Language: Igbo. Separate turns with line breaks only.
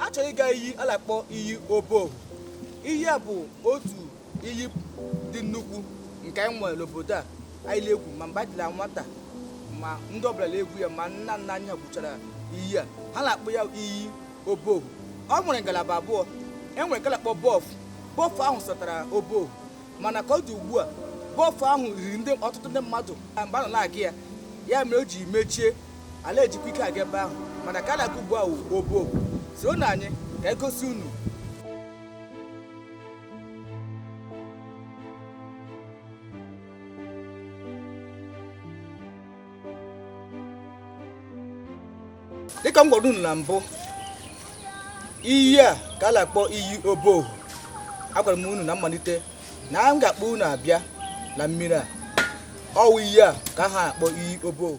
achọrọ ịga iyi a na-akpọ iyi obohu iyi a bụ otu iyi dị nnukwu nke anyị nwere n'obodo a anyị na-egwu ma mgbe anyị dị na nwata ma ndị ọbụla na-egwu ya ma nna nna anyị ha gwuchara iyi a ha na-akpọ ya iyi obohu ọ nwere ngalaba abụọ e nwere nke a na-akpọ bọf bọf ahụ satara obohu mana ka ọ dị ugbu a bọf ahụ riri ndị ọtụtụ ndị mmadụ na mgbe a nọ na-aga ya ya mere o ji mechie a na-ejikwa ike aga ebe ahụ mana nke a na-aga ugbu a wụ obohu soronụ anyị ka anyị gosi unu dịka m gwara unu na mbụ iyi a ka a na-akpọ iyi obohu agwara m unu na mmalite na m ga-akpọ unu abịa na mmiri a ọ wụ iyi a ka ha akpọ iyi obohu